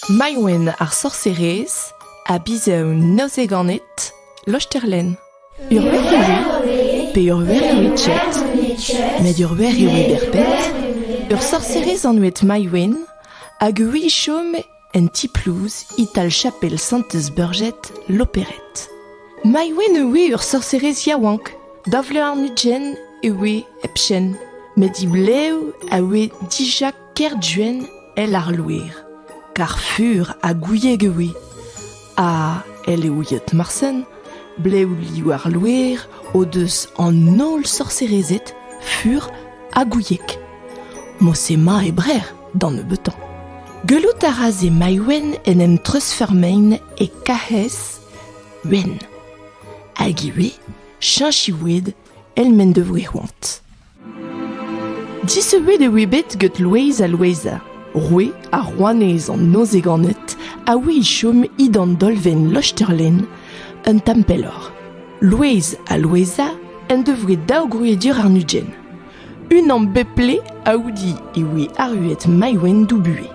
Maïwenn ar sorserez a bizev neuze ganit, Losterlenn. Ur wer e oui pe ur wer e oui jet, met ur wer e oui berped. Ur sorserez anvet Maïwenn hag oui chom en ti-plouz e-tal chapel Santez Burjet Loperet. Maïwenn e oui ur sorserez yaouank, da vlean ugent e oui hepchen, met div lev a oui dija Kerduenn èl ar loer, kar fur ha gouieg e oe, ha, èl eo yeot morsen, blev liv ar loer o deus an holl sorserezed fur ha gouieg. Mose-ma e brec'h d'an nebeutañ. Gellout a ra se Maïwenn en em treuzfeurmein e Kahez wenn. Hag ivez cheñch iwed èl m'en devoe c'hoant. Disubet e oe bet gant Loeiz ha Loeiza, roue ha rouanez an Nozeganed, a oe e chom he d'an dolvenn Lochterlen, un tamm pelloc'h. Loeiz ha Loeiza en devoe daou grouedur arnugent. Unan bep-ple aoudi e oe arruet Maïwenn Doubue.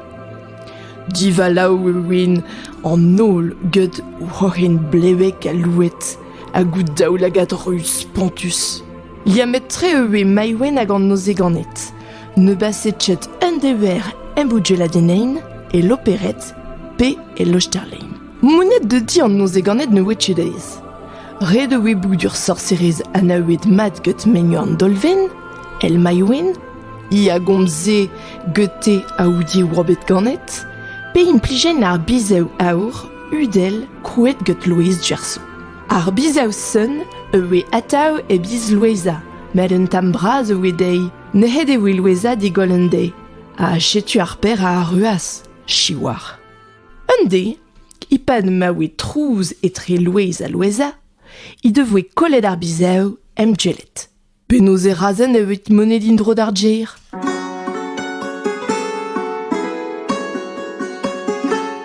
Divalav e oent an holl gant o c'hoc'hen blevek ha louet, ha gout daoulagad ruz spontus. Liammet-tre e oe Maïwenn hag an nozeganed. Ne baset chet eun dever em bougelladennein e Lopered pe e Losterlein. Mounnet de di an nozeganed ne oe chet aes. Red e oe boudur sorserez anaouet mat get menio an Dolven, el Maïwenn, i a gomze gete aoudi e oabet ganet, pe implijen ar bizev aour udel kouet get loez Gerso. Ar bizav-sonn a oe atav e biz Loueza, met un tamm bras a oe dezhi. Nec'het e voe Loueza digoll un deiz, ha setu ar paer a arruas, siwazh. Un deiz, e-pad ma oe trouz etre Louez ha Loueza, he devoe kollet ar bizav em djellet. Penaos e razen evit moned in-dro d'ar gêr?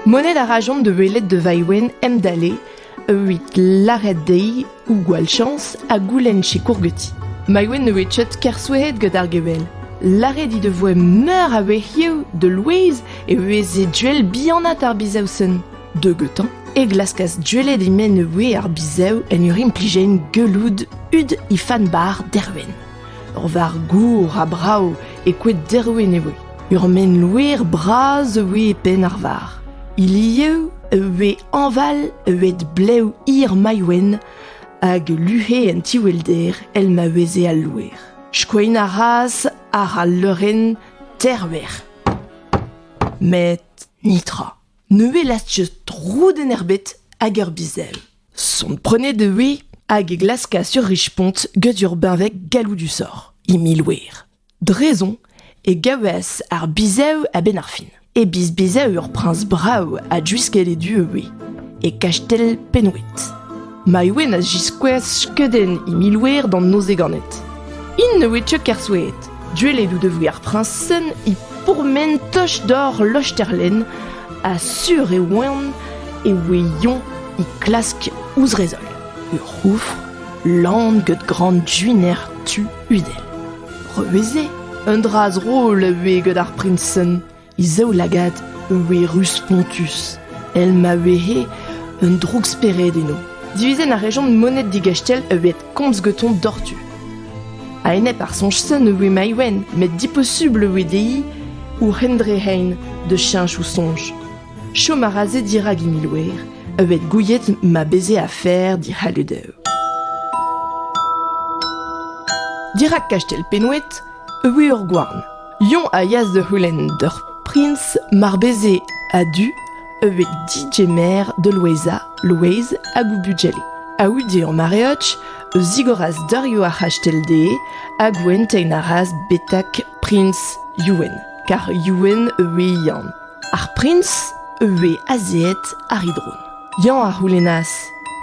Moned a rajont da welet da Vaewen emdale evit lâret dezhi ou gwall chañs ha goulenn sikour ganti. Maïwen ne voe chet kersouehet gant ar gevell. Lâret he devoe meur a wec'hioù da Louise e veze duell bihanat ar bizausenn. Deugetañ e glaskas gwelet he menn e voe ar bizev en ur implijenn gelloud hud he fann-bar derwen. Ur varr gour ha brav e koed derwen e voe. Ur menn loer bras e voe e penn ar varr. Ilieu e voe hañval eget blev hir Maïwenn hag luc'he en tiwelder el ma veze al loer. Skoin a ras àr al leurenn terver. Met nitra. Ne welas-je droudenn ebet hag ur bizell. Sonprenet e voe hag e glaskas ur rich-pont get ur beñveg galloudusoc'h, he miloer. Drezon e gavas ar bizev a-benn ar fin. E biz bizev ur priñs brav ha juisket e du e voe, e kastell Penwed. Maïwenn a ziskouez skeudenn he miloer d'an noz ganet. Int ne oe teu ker soue'et. Duellet out da voe ar priñsenn he pourmen toch dor losterlenn ha sur e oant e oe yoñ é klask ouzh re zoll. Ur c'houfr lan get gran duiner tu udel. Reue-se un dra zrol a oe get ar priñsenn. he zaoulagad e voe ruz-spontus, èl ma vehe un droukspered eno. Divizenn a rejont moned digastell e ved komz gantañ doc'htu. A-enep ar soñj-sen e voe Maïwenn met diposubl e voe dezhi ouc'h en dre hein da cheñch o soñj. Chom a ra se dirak he miloer e ved gouiet ma beze afer dic'halludev. Dirak kastell Penwed e voe ur gouarn Yoñ a yeas da c'houlenn d'ur priñs mar beze a-du evit digemer da Loueza, Louez hag o bugale. Aoude an mareoch a zigoras darioù ar c'hastell dezhe hag oentein a ras betek priñs Youenn, kar Youenn a voe Yann. Ar priñs a voe azeet àr e dron. Yann a c'houlennas.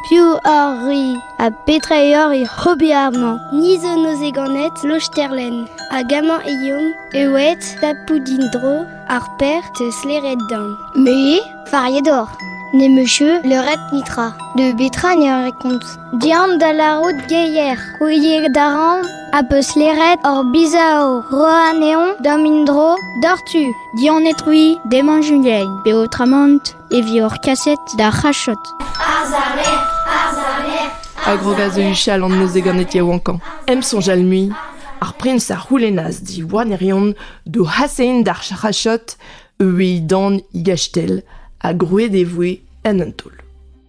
Piv oc'h-c'hwi ha petra eo hoc'h ober amañ? Ni zo neuze ganet Losterlenn hag amañ eomp ewed Tapoudin-dro ar Pêr 'teus lêret deomp. Me fariet oc'h. Ne 'm eus leuret netra. De betra ne ran ket kont? Deomp da lârout geier ouiet a ran a peus lêret hor bizao roa anezhoñ da'm in-dro doc'htu. Dianet-c'hwi deman Juliain, peotramant e vioc'h kaset d'ar c'hachod. A grogas eus huchal an noz-se ganet yaouankañ. Em soñjal mui, ar priñs a c'houlennas diwar ne reont d'o c'hasein d'ar c'hachod, eus he dan he gastell, ha grouet e voe en un taol.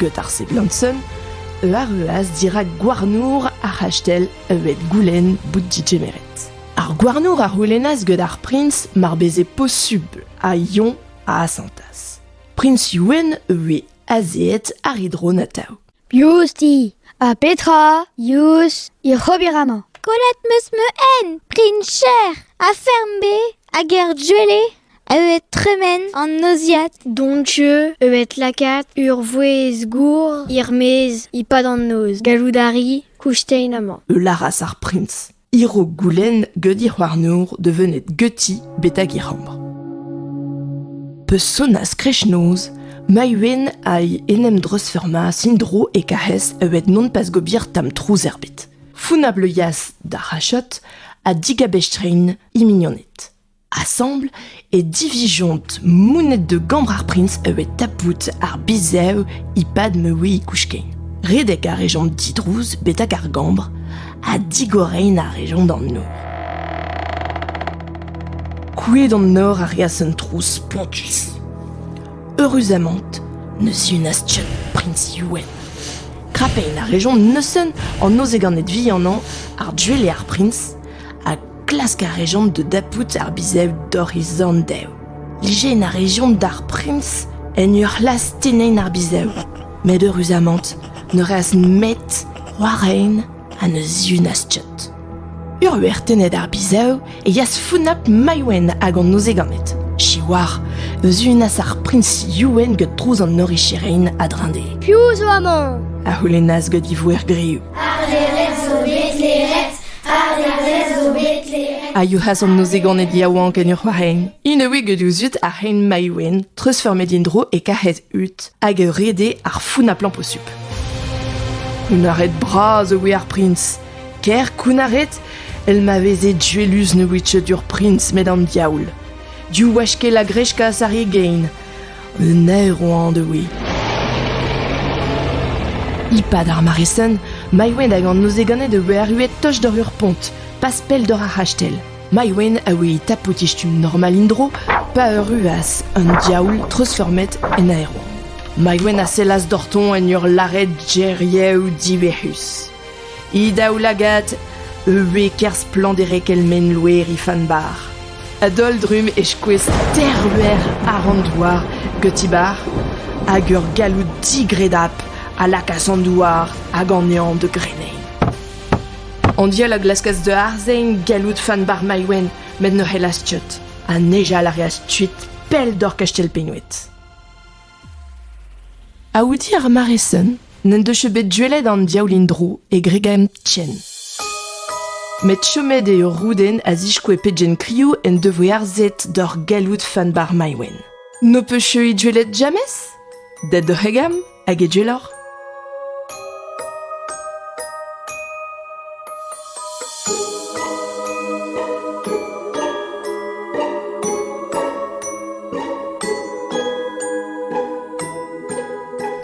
Get ar seblanson eu arruas dirak gouarnour ar c'hastell evet goulenn bout didgemeret. Ar gouarnour a c'houlennas get ar prins mar beze posubl ha Yon a asantas. Prins Youenn e voe azeet ar hidron atav. Yousdi, ha petra? Yous, hir ober amañ. Kollet meus me en, prin cher, ha ferm be, hag er duele, Evet tremen an noziad d'hon jeu, evet lakaat ur vouezh gour er-maez e-pad an noz. Gallout a ri koustein amañ. E laras ar prins, hiro goulenn geudiñ warnour devennet geuti betek e c'hambr. Pe sonas kreshnoz, Maïwen hag en em dreuzfurmas indro e kahez evet non pas gobir tam trouz erbet. Funabl yas d'ar hachot ha digabestrein imignonet. Asambl e divizjont mouned da gambr ar prins a oe tapout ar bizev e-pad ma oe kouskeiñ. Redek a rejont didrouz betek ar gambr ha digorein a rejont an nor. Kouet an nor a reas un trouz spontus. Eüruzamant ne sunas ket prins Youenn. Krapein a rejont neuzen an noz eganed vihanañ ar duelliñ ar prins ha Klask a rejont da dapout ar bizev dorizandev. Lijen a rejont d'ar priñs en ur c'hlas tennañ ar bizev. Met eüruzamant ne reas nemet war rein ha ne zihunas Tchot. Ur tennet ar bizev e yas founap Maïwenn hag an ozeganed. Siwar, eus unas ar priñs Youenn get trouz an oricherein a drinde. Piv zo amañ? a c'houlennas get e vouer griv. A yourc'has an nozegoned yaouank en ur c'hoarein. Int a oe get o zud ar c'hein Maiwen, treuzfurmet int dro e karc'hez Ut, hag ur rede ar founnañ-plañ posupl. Kounnaret bras a oe ar prins. Ker kounnaret, el ma veze djellus ne oe teudur prins met an diaoul. Div wech-kel a greskas ar re gein. Un aeroañd eo eo. E-pad ar mare-sen, Maïwenn hag an nozeganed a oe arruet toch doc'h ur pont, pas pell doc'h ar c'hastell. Maïwenn a oe tapout e stumm normal en-dro, pa arruas an diaoul treuzformet en aero. Maïwenn a sellas doc'htoñ en ur lâret geriaoù diverrus. He daoulagad a oe ker splanderek el mengloer he fann-barr. A-daol-drumm e skouez terluer àr an douar geuti-barr, hag ur galloud digredapl a lakaas an douar hag an neñv da greneiñ. An diaoul a glaskas da arzein galloud fann-barr Maïwenn met ne c'hellas tiot, ha nijal a reas tuit pell doc'h Kastell Pennoed. Aouti ar mare-sen n'en deus bet gwelet an diaoul en-dro e gregenn Tchen. Met chomet eo Rouden a ziskoe pegen kriv en devoe harzet d'hor galloud Fanbar Maïwenn. N'ho peus cheüit gwelet jamez? Det d'o c'hegam hag e gwelloc'h.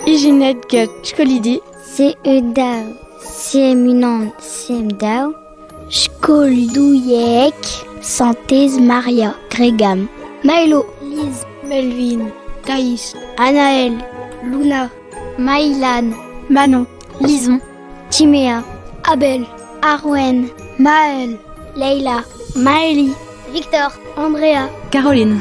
Ijinet get skolidi C-E-daou C-M-unan C-M-daou Skolidouieg Santez Maria Gregam Maelo Liz Melvin Thaïs Anaël Luna Maïlan, Manon, Lison, Timea, Abel, Arwen, Maël, Leila, Maëli, Victor, Andrea, Caroline.